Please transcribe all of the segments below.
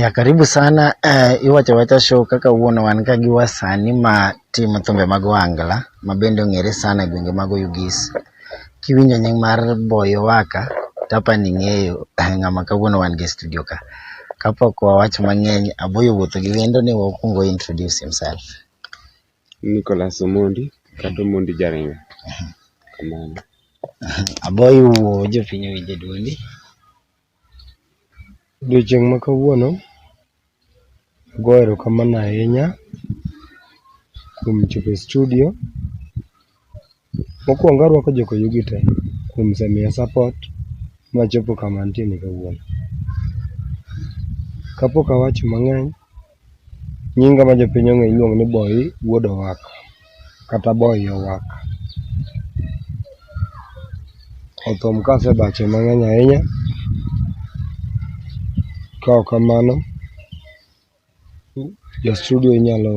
Ya, karibu sana uh, eh, Iwachawacha Show kaka wuono wan ka gi wasani ma timo thumbe mag Ohangla ma bende ong'ere sana e gwenge mag Oyugis. Kiwinjo nying mar Boyo Waka tapa ni ng'eyo eh, ng'ama kawuono wan gi e studio ka. Kapok wawach mang'eny, Aboyo wuotho gi wendo ni wakwongo introduce himself. Nicholas Omondi kata Omondi Jaringa. Kamano. Aboyi wuo jopiny owinje duondi. Odiochieng' ma kawuono, ago erokamano ahinya kuom chopo e studio Mokuongo aruako jokoyugi te kuom semiya support machopo kama antie ni kawuono. Kapok awacho mang'eny, nyinga ma jopiny ong'eyo iluongo ni Boyi wuod Owak kata Boyi Owak. Othum ka asebache mang'eny ahinya, kaok kamano jo studio inyalo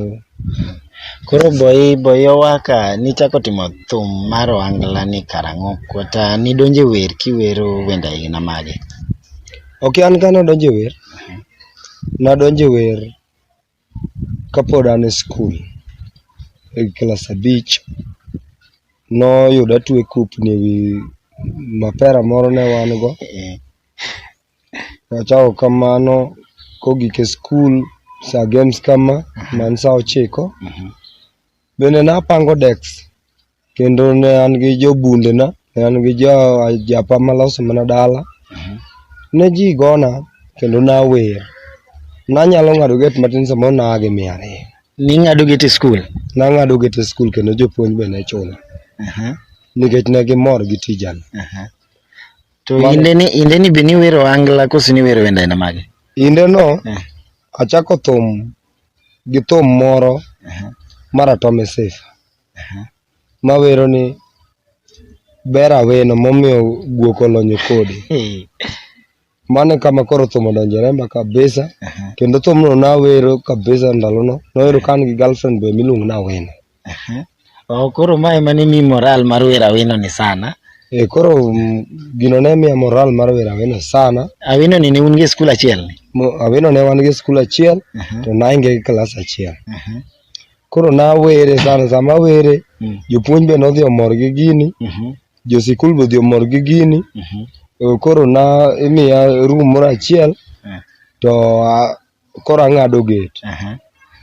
Koro boyi boyi owaka nichako timo thum mar ohangla ni karang'o kata nidonje wer kiwero wenda aina mage ok an kane adonje wer nadonje wer kapod an e skul e klas abich noyuda atwe kupni ewi mapera moro ne wan go Wachako kamano kogik e skul sa games kama man sa ochiko. Bende napango deks kendo ne an gi jobundena, ne an gi jo ajapa maloso mana dala. Ne ji gona kendo nawer. Nanyalo ng'ado get matin samoro naa gi mia ariyo. Ning'ado get e skul? Nang'ado get e skul kendo jopuonj be ne chula nikech ne gimor gi tijani. To inde ni inde ni be ni wero angla koso ni wero wende na mage? Inde no eh. achako thum gi thum moro uh -huh. mara Tommy Safe. Uh -huh. Ma wero ni ber aweno momiyo guok olonyo kodi. Mano e kama koro thum odonjo e remba kabisa uh -huh. kendo thumno nawero kabisa ndalono, nawero ka an gi girlfriend be miluongo ni Awino. Oh, koro ma ema ni mi moral mar wer awino ni sana. Eh, koro mm, gino ne miya moral mar wer awino sana. Awino ni ne un gi skul achiel ni? Awino ne wan gi skul achiel uh -huh. to nainge gi klas achiel. Uh -huh. Koro nawere sana, sama awere uh mm. -huh. jopuonj be nodhi omor gi gini. Uh -huh. Josikul be odhi omor gi gini. Uh -huh. Koro na imiya room moro achiel uh eh. -huh. to uh, koro ang'ado get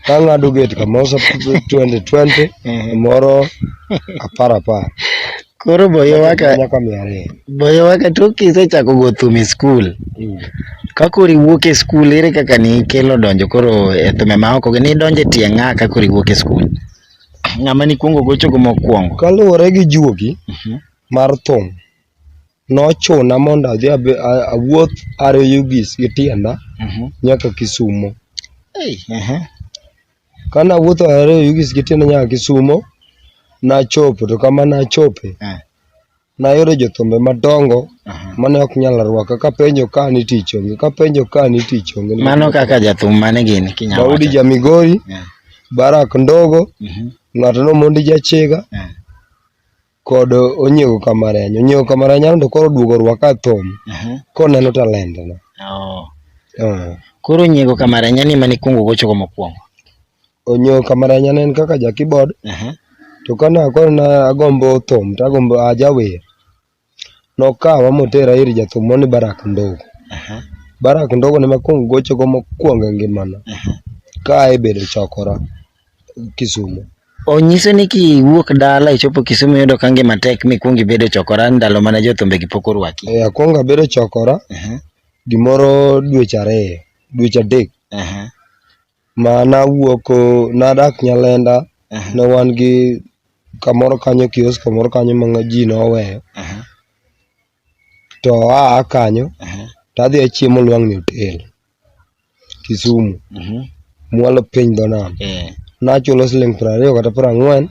kang'ado get kamoro sa 2020 moro apar apar koro boyo waka nyaka mia ariyo boyo waka to kisechako go thum e skul Mm. ka koro iwuok e skul ere kaka nikelo donjo koro e thume ma oko gi nidonjo e tie ng'a ka koro iwuok e skul ng'ama nikwongo gochogo mokwongo kaluwore gi juogi mar thum nochuna mondo adhi abe- a- awuoth ariyo gis gi tienda Mhm. nyaka Kisumo. Ei, ehe. Ka nawuotho ariyo gis gi tienda nyaka Kisumo, nachopo to kama nachope, Eh. nayudo jothumbe madongo Aha. mane ok nyal rwaka kapenjo ka ni tich onge kapenjo ka ni tich onge Mano kaka jathum mane gini kinyalo Daudi wacho. Jamigori, Eh, Barak Ndogo, mhm, ng'ato no Mondi Jachega, eh. kod onyiego kamareny onyiego kamareny aneno to koro oduogo rwaka thum koneno talent na oh. uh. koro onyiego kamareny ni mane ikwongo gocho go mokwongo onyiego kamareny aneno kaka ja keyboard uh -huh. to kana koro na agombo thum to agombo ajawer nokawa motera ir jathum moni barak ndogo uh -huh. barak ndogo ne makwongo gocho go mokwongo e ngimana uh -huh. ka aebedo chokora Kisumo. Onyiso ni kiwuok dala ichopo Kisumu iyudo ka ngima tek mikwongo ibedo e chokora ndalo mane jothumbegi pok orwaki. Eh, akwongo abedo e chokora Aha, gimoro dweche ariyo, dweche adek aha, ma nawuok oh, nadak Nyalenda aha, ne wan gi kamoro kanyo kiosk kamoro kanyo ma nga- ji noweyo aha, to aa kanyo aha. to adhi achiemo Lwang'ni Hotel. Kisumu. Mhm. Mwalo piny dho nam. Eh. Nachulo siling' piero ariyo kata piero ang'wen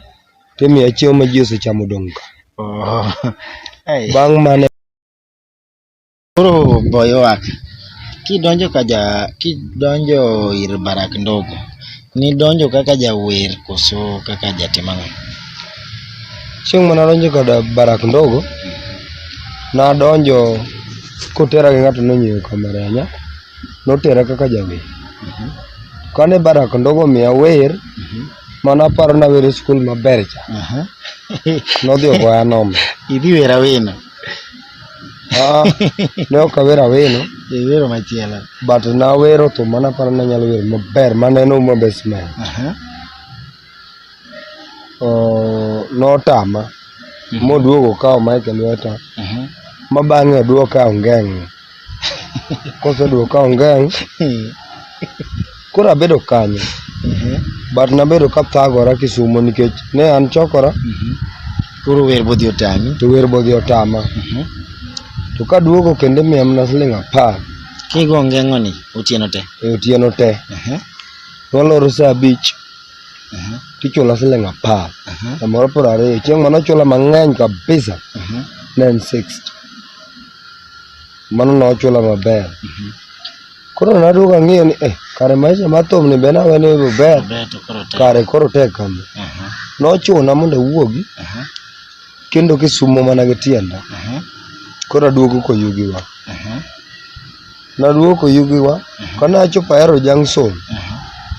timiya chiemo ma ji osechamo odong' ka. Oh. Ai. Bang' mane Koro boywak. Kidonjo ka ja kidonjo ir barak ndogo. Nidonjo kaka jawer koso kaka jatim ang'o? Chieng' mane adonjo kod Barak Ndogo, nadonjo kotera gi ng'ato nonyiewo kameranya, notera kaka jawer. Kane Barak Ndogo omiya wer, mane aparo nawer e skul maber cha, nodhi ogoya noma. Idhi wer awena. Ah, ne ok awero aweno. Iwero machielo. But nawero to mana paro ni anyalo wero maber maneno uma best man. Oh, notama. Mhm. Moduogo okawo mic e lweta. Ma bang'e oduoka ongeng'. Koseduoka ongeng'. Koro abedo kanyo Ehe. but nabedo kathagora Kisumo nikech ne an chokora Mhm. Koro wer bodhi otami. to wer bodhi otama Mhm. to kaduogo kendo imiya mana siling' apar Kigo ngeng'oni otieno te. e otieno te Ehe. to waloro saa abich Ehe. tichula siling' apar Ehe. samoro piero ariyo chieng' mane ochula mang'eny kabisa Ehe. ne en 60 mano ne ochula maber Mhm. Koro naduogo ang'iyo ni eh, kare maisha mar thum ni be nawe ni ber Ber to koro tek. kare koro tek kama. Aha, Nochuna mondo awuogi aha, kendo kisumo mana gi tienda. aha, Koro aduogo koyugiwa. aha, Naduogo koyugiwa ka nachopo Ahero Junction aha.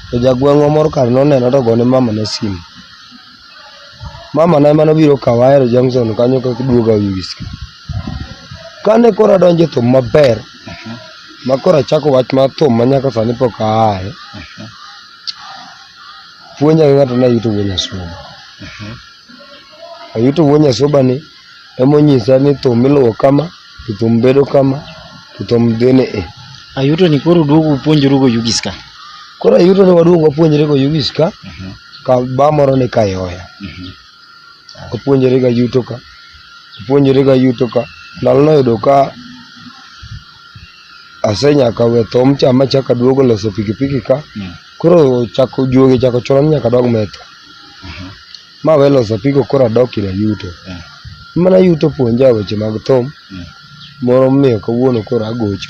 to jagweng'wa moro kar nonena to gone mamana simu. Mama na ema nobiro kawa Ahero Junction kanyo kaka duoga Wiski. Kane koro adonjo e thum maber, ma koro achako wach mar thum ma nyaka sani pok aaye, puonja gi ng'ato ne ayuto wuo Nyasuba. Ayuto wuo Nyasuba ni Emonyisa ni thum iluwo kama, to thum bedo kama, to thum dhi ni i. Ayuto ni koro duogo upuonjru go yugis ka. Koro ayuto ni waduogo wapuonjre go yugis ka, mhm. ka ba moro ni kayoya. Mhm. Wapuonjre ga yuto ka, wapuonjre ga yuto ka. Ndalo noyudo ka asenyaka we thum cha ma chaka duogo loso pikipiki ka. Mm. Koro chako juogi chako chuno ni nyaka dog metho. Mhm. ma we loso pigo koro adok ira yuto. Mana yuto puonja weche mag thum, moro miyo kawuono koro agocho.